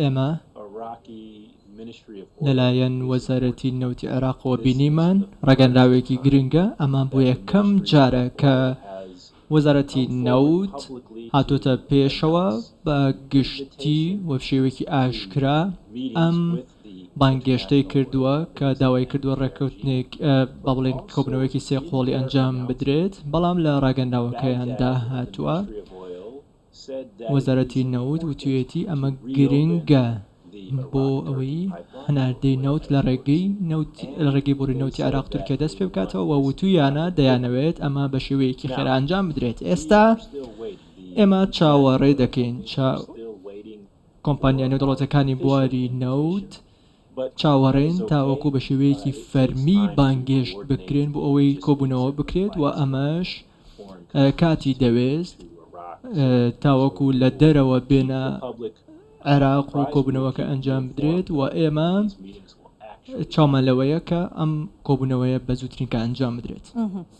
ئێمە لەلایەن وەزارەتی نەوتی عێراقەوە بینیمان ڕاگەنراوێکی گرنگە، ئەمە بۆ یەکەم جارە کە وەزارەتی نەوت هاتۆتە پێشەوە بە گشتی و شێوەیەکی ئاشکرا ئەم بانگێشتەی کردووە کە داوای کردووە ڕێککەوتنێک با بڵێن کۆبنەوەیەکی سێ قۆڵی ئەنجام بدرێت، بەڵام لە ڕاگەنراوەکەیاندا هاتووە. وەزارەتی نەوت وتویەتی ئەمە گرنگە بۆ ئەوەی هەناردەی نەوت لە ڕێگەی نەوت لە ڕێگەی بۆری نەوتی عێراق تورکیا دەست پێ بکاتەوە و وتویانە دەیانەوێت ئەمە بە شێوەیەکی خێرا ئەنجام بدرێت ئێستا ئێمە چاوەڕێ دەکەین کۆمپانیا نێودەوڵەتیەکانی بواری نەوت چاوەڕێن تاوەکو بە شێوەیەکی فەرمی بانگێشت بکرێن بۆ ئەوەی کۆبوونەوە بکرێت و ئەمەش کاتی دەوێست تاوەکو لە دەرەوە بێنە عێراق و کۆبوونەوەکە ئەنجام بدرێت و ئێمە چاومان لەوەیە کە ئەم کۆبوونەوەیە بە زووترین کات ئەنجام بدرێت.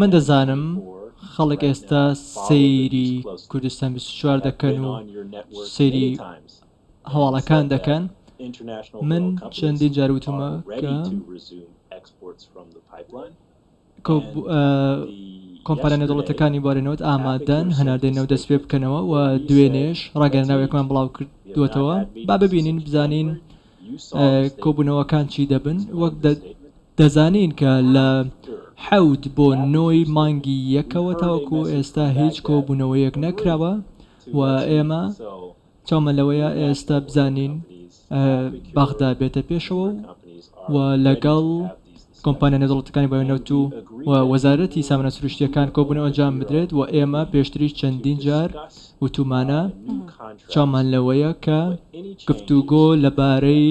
من دەزانم خەڵک ئێستا سەیری کوردستان بیست و چوار دەکەن و سەیری هەواڵەکان دەکەن، من چەندین جار وتوومە کە کۆمپانیا نێودەوڵەتییەکانی بواری نەوت ئامادەن هەناردەی نەوت دەست پێ بکەنەوە و دوێنێش ڕاگەیەنراوێکمان بڵاوکردووەتەوە، با ببینین بزانین کۆبوونەوەکان چی دەبن؟ وەک دەزانین کە لە حەوت بۆ نۆی مانگی یەکەوە تاوەکو ئێستا هیچ کۆبوونەوەیەک نەکراوە و ئێمە چاومان لەوەیە ئێستا بزانین بەغدا بێتە پێشەوە و لەگەڵ کۆمپانیا نێودەوڵەتیەکانی بەهۆی نەوت و و وەزارەتی سامانە سروشتیەکان کۆبونەوە ئەنجام بدرێت وە ئێمە پێشتریش چەندین جار وتومانە چاومان لەوەیە کە گفتوگۆ لەبارەی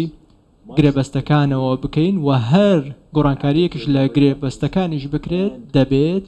گرێبەستەکانەوە بکەین وە هەر گۆڕانکاریەکیش لە گرێبەستەکانیش بکرێت دەبێت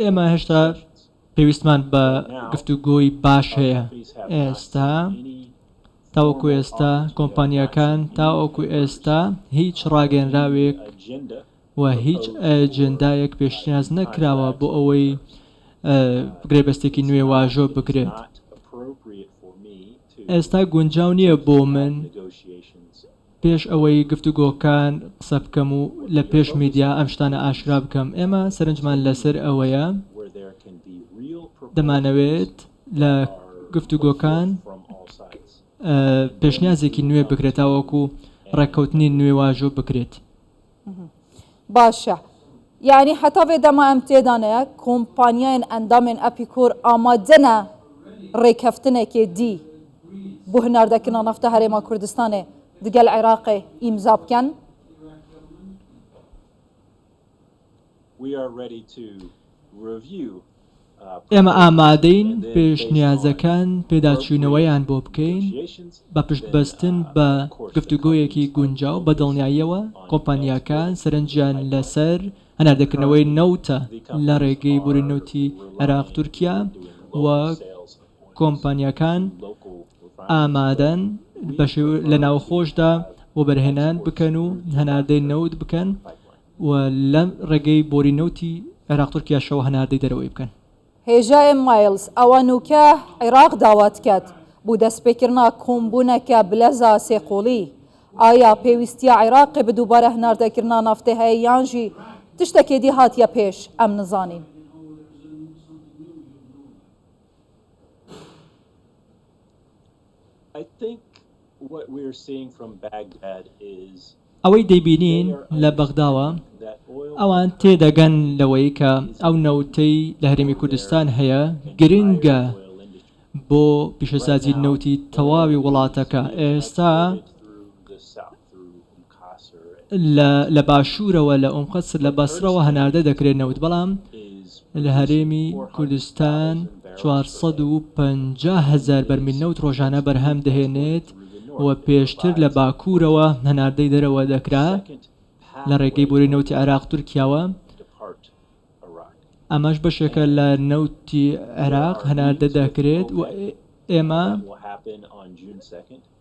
ئێمە هێشتا پێویستمان بە گفتوگۆی باش هەیە ئێستا. تاوەکو ئێستا کۆمپانیاکان تاوەکو ئێستا هیچ ڕاگەنراوێک. و هیچ ئەجێندایەک پێشنیاز نەکراوە بۆ ئەوەی گرێبەستێکی نوێ واژۆ بکرێت. ئێستا گونجاو نییە بۆ من پێش ئەوەی گفتوگۆکان قسە بکەم و لە پێش میدیا ئەم شتانە ئاشکرا بکەم. ئێمە سەرنجمان لەسەر ئەوەیە دەمانەوێت لە گفتوگۆکان پێشنیازێکی نوێ بکرێت تاوەکو ڕێککەوتنی نوێ واژۆ بکرێت. باشە یانی حتا ڤێ دەما ئەم تێدانەیە کۆمپانیایەن ئەندامێن ئەپیکۆر ئامادەنە ڕێکەفتنێکێ دی بۆ هناردەکردنە نەفتە هەرێما کوردستانێ دگەل عێراقێ ئیمزا بکەن؟ ئێمە ئامادەین پێشنیازەکان پێداچوونەوەیان بۆ بکەین بە پشتبەستن بە گفتوگۆیەکی گونجاو بە دڵنیاییەوە کۆمپانیاکان سەرنجیان لەسەر هەناردەکردنەوەی نەوتە لە ڕێگەی بوری نەوتی عێراق تورکیا و کۆمپانیاکان ئامادەن لە ناوخۆشدا وەبەرهێنان بکەن و هەناردەی نەوت بکەن. و لە ڕێگەی بۆری نەوتی عێراق تورکیاشەوە هەناردەی دەرەوەی بکەن. هێژاێ مایڵز ئەوە نووکە عێراق داوات کەت بو دەسپێکردنا کوومبوونەکە بلەزا سێقۆڵی. ئایا پێویستیە عێراقێ بە دووبارە هەناردەکردنا نافتێ هەێ یان ژی تشتەکێ دی هاتیە پێش ئەم نزانین. ئەوەی دەیبینین لە بەغداوە ئەوان تێدەگەن لەوەی کە ئەو نەوتەی لە هەرێمی کوردستان هەیە گرنگە بۆ پیشەسازی نەوتی تەواوی وڵاتەکە ئێستا لە باشوورەوە لە ئوم قەسر لە بەسڕەوە هەناردە دەکرێت نەوت بەڵام لە هەرێمی کوردستان چوار سەد و پەنجا هەزار بەرمیل نەوت ڕۆژانە بەرهەم دەهێنێت و پێشتر لە باکوورەوە هەناردەی دەرەوە دەکرا لە ڕێگەی بۆری نەوتی عێراق تورکیاوە، ئەمەش بەشێکە لە نەوتی عێراق هەناردە دەکرێت و ئێمە.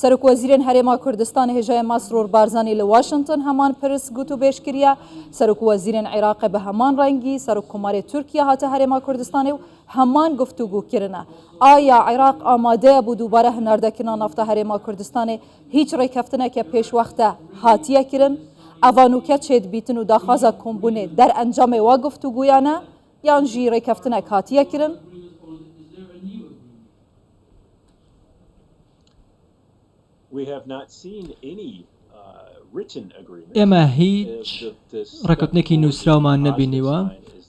سەرۆک وەزیرێن هەرێما کوردستان هێژای مەسرور بارزانی لە واشنتن هەمان پرس گوت و بێژ کریا، سەرۆک وەزیرێن عیراقێ بە هەمان رەنگی، سەرۆک کۆمارێ تورکیا هاتە هەرێما کوردستانێ و هەمان گفتوگو کرنە. ئایا عیراق ئامادەیە بۆ دووبارە هناردەکرنا نافتا هەرێما کوردستانێ هیچ رێککەفتنەکێ پێش وەختە هاتیە کرن؟ ئەڤا نووکە چێد بیتن و داخوازە کۆمبونێ دەرئەنجامێ وا گفتوگویانە یان ژی رێککەفتنەک هاتیە کرن؟ ئێمە هیچ ڕێککەوتنێکی نووسراومان نەبینیوە،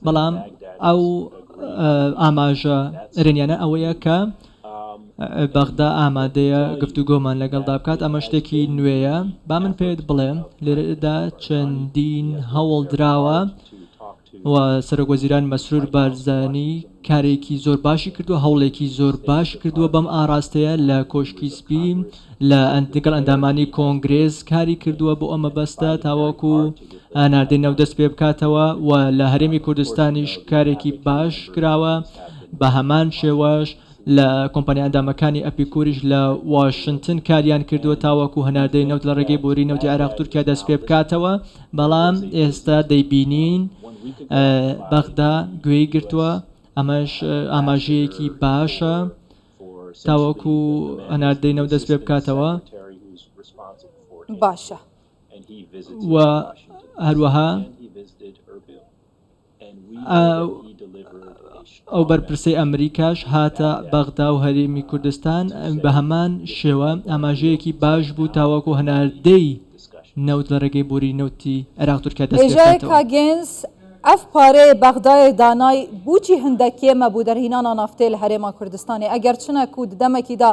بەڵام ئەو ئاماژە ئەرێنییانە ئەوەیە کە بەغدا ئامادەیە گفتوگۆمان لەگەڵدا بکات، ئەمە شتێکی نوێیە. با من پێت بڵێم، لێرەدا چەندین هەوڵ دراوە، و سەرۆک وەزیران مەسرور بارزانی کارێکی زۆر باشی کردووە، هەوڵێکی زۆر باش کردووە بەم ئاراستەیە، لە کۆشکی سپی لە دەگەڵ ئەندامانی کۆنگرێس کاری کردووە بۆ ئەو مەبەستە تاوەکو هەناردەی نەوت دەست پێ بکاتەوە و لە هەرێمی کوردستانیش کارێکی باش کراوە بە هەمان شێوەش لە کۆمپانیا ئەندامەکانی ئەپیکوریش لە واشنتن کاریان کردووە تاوەکو هەناردەی نەوت لە ڕێگەی بۆریی نەوتی عێراق-تورکیا دەستپێبکاتەوە، بەڵام ئێستا دەیبینین بەغدا گوێی گرتووە، ئەمەش ئاماژەیەکی باشە تاوەکو هەناردەی نەوت دەستپێبکاتەوە. و هەروەها. ئەو بەرپرسەی ئەمریکاش هاتە بەغدا و هەرێمی کوردستان بە هەمان شێوە ئاماژەیەکی باش بوو تاوەکو هەناردەی نەوت لە ڕێگەی بۆری نەوتی عێراق تورکیا دەست پێ بکاتەوە. هێژایەکا گێنس ئەڤ پارەێ بەغداێ دانای بووچی هندەکیێ مەبوو دەرهینانا نافتەێ لە هەرێما کوردستانێ ئەگەر چنە کوو ددەمەکی دا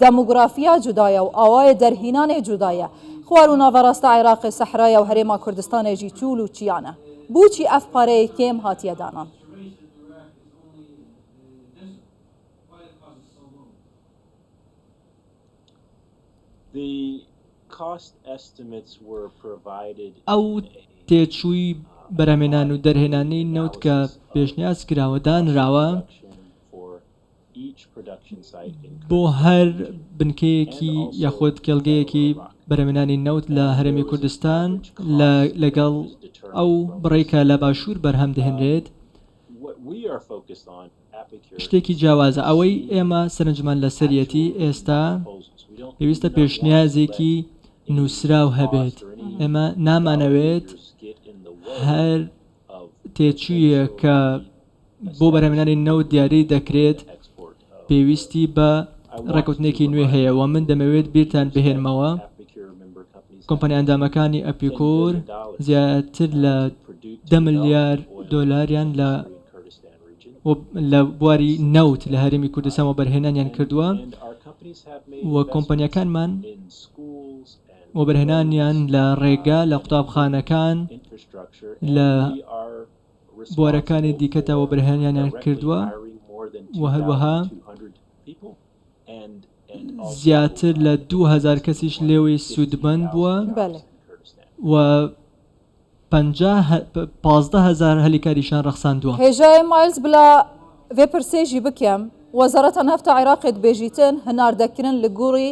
دەموگرافیا جودایە و ئاوایە دەرهینانێ جودایە. خوار و ناڤەڕاستە عێراقێ سەحرایە و هەرێما کوردستانێ ژی چوول و چیانە. بووچی ئەف پارەیێ کێم هاتیە دانان؟ ئەو تێچووی بەرهەمێنان و دەرهێنانی نەوت کە پێشنیاز کراوە دانراوە. بۆ هەر بنکەیەکی یاخود کێڵگەیەکی بەرهەمهێنانی نەوت لە هەرێمی کوردستان لە لەگەڵ ئەو بڕەی کە لە باشوور بەرهەم دەهێنرێت شتێکی جیاوازە، ئەوەی ئێمە سەرنجمان لەسەریەتی ئێستا پێویستە پێشنیازێکی نووسراو هەبێت، ئێمە نامانەوێت هەر تێچوویە کە بۆ بەرهەمهێنانی نەوت دیاری دەکرێت پێویستی بە ڕێکوتنێکی نوێ هەیە و من دەمەوێت بیرتان بهێنمەوە کۆمپانیا ئەندامەکانی ئەپیکور زیاتر لە دە ملیار دۆلاریان لە لە بواری نەوت لە هەرێمی کوردستان و بەرهێنانیان کردووە و کۆمپانیەکانمان وەبەرهێنانیان لە ڕێگا لە قوتابخانەکان لە بوارەکانی دیکەتەوە بەرهەمیانیان کردووە و هەروەها زیاتر لە دوو هەزار کەسیش لێوەی سوودمەند بووە و پازدە هەزار هەلی کاریشان ڕەخساندووە. هێژای مایلز بلا ڤێ پرسێژی بکێم، وەزارەتا نەفتا عێراقێ دبێژیتن هناردەکرن لە گوڕی،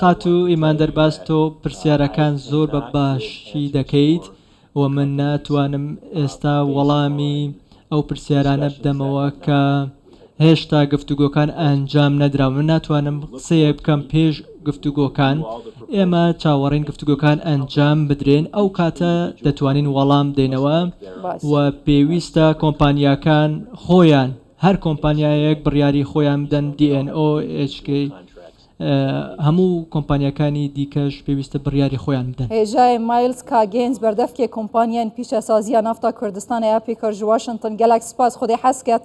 خاتوو ئیمان دەرباز تۆ پرسیارەکان زۆر بە باشی دەکەیت و من ناتوانم ئێستا وەڵامی ئەو پرسیارانە بدەمەوە کە هێشتا گفتوگۆکان ئەنجام نەدراون من ناتوانم قسەیەک بکەم پێش گفتوگۆکان، ئێمە چاوەڕێین گفتوگۆکان ئەنجام بدرێن ئەو کاتە دەتوانین وەڵام بدەینەوە و پێویستە کۆمپانیاکان خۆیان هەر کۆمپانیایەک بڕیاری خۆیان بدەن DNO، HK، هەموو کۆمپانیاکانی دیکەش پێویستە بڕیاری خۆیان بدەن. هێژای مایلز کاگێنج بەردەفکێ کۆمپانیاین پیشەسازییە نافتا کوردستان ەیە پیکەر ژواشنتن گەلەک سپاس خودێ حەز کەت